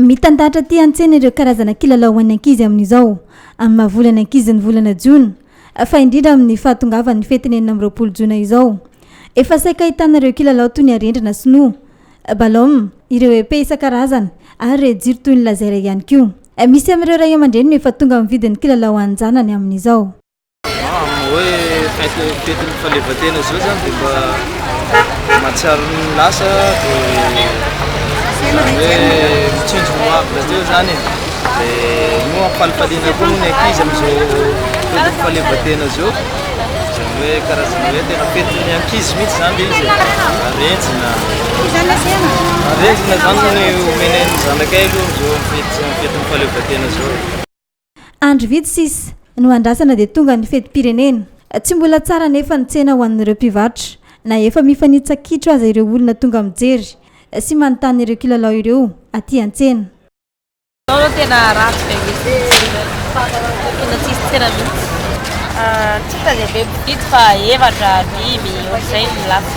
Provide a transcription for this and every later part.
Mitandahatra aty an-tsena ireo karazana kilalao ho an'ny ankizy amin'izao, amin'ny maha volan'ny ankizy ny volana jona, fa indrindra amin'ny fahatongavan'ny fetin'ny enina amby roapolo jona izao. Efa saika ahitana ireo kilalao toy ny arendrina sinoa, ballon, ireo épée isan-karazany ary ireo jiro toy ny laser ihany koa. Misy amin'ireo ray aman-dreny no efa tonga mividy ny kilalao ho an'ny zanany amin'izao. Amin'ny hoe fety fetin'ny fahaleovantena izao izany dia mba mahatsiaro ny lasa dia izany hoe mitsinjo ny hoavy rahateo izany e. Dia io ampalifaliana koa moa ny ankizy amin'izao fetin'ny fahaleovantena izao. Izany hoe karazana hoe tena fetin'ny ankizy mihitsy izany ilay izy e. Arenjina. Arenjina izany no omena ny zanakay aloha amin'izao fety- fetin'ny fahaleovantena izao e. Andro vitsy sisa no andrasana dia tonga ny fetim-pirenena. Tsy mbola tsara anefa ny tsena ho an'ireo mpivarotra na efa mifanitsa-kitro aza ireo olona tonga mijery sy manontany ireo kilalao ireo aty an-tsena. Izao aloha tena ratsy be mihitsy ny tsena, tena tsisy tsena mihitsy. Tsy hitany be mpividy fa efatra, dimy, ohatr'izay no lafo.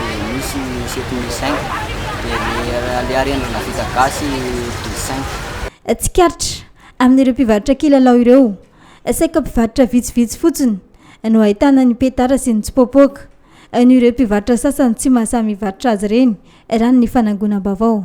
Dia misy setin'ny i Cinq, dia ny le arendrina vita gasy du cinq. Tsikaritra, amin'ireo mpivarotra kilalao ireo, saika mpivarotra vitsivitsy fotsiny no ahitana ny petara sy ny tsipoapoaka, noho ireo mpivarotra sasany tsy mahasahy mivarotra azy ireny, raha ny fanangonam-baovao.